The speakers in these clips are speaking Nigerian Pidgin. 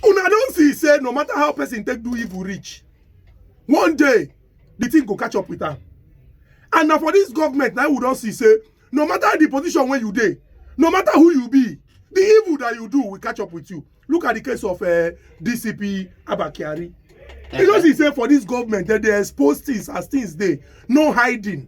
una don see say no matter how person take do evil reach one day the thing go catch up with am and na for this government na we don see say no matter the position wey you dey no matter who you be the evil that you do will catch up with you look at the case of uh, dcp abba kyari you don see say for this government dem dey expose things as things dey no hiding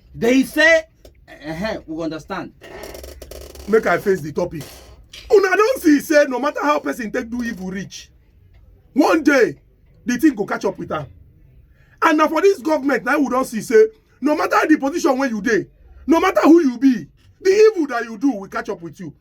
They say, uh, uh, we understand. Make I face the topic. Una don't see say no matter how person take do evil reach, one day the thing go catch up with her. And now for this government, now we don't see say no matter the position where you dey, no matter who you be, the evil that you do will catch up with you.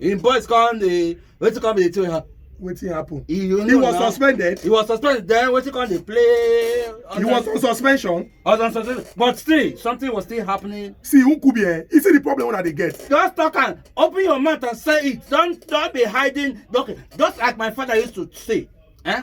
im boys come dey wetin come be the thing wetin happen. he, he was now. suspended. he was suspended then wetin come dey play. he was on suspension. was on suspension but still something was still happening. see nkubi eh you see the problem wey i dey get. just talk am open your mouth and say it don don be hiding document just like my father used to say. Eh?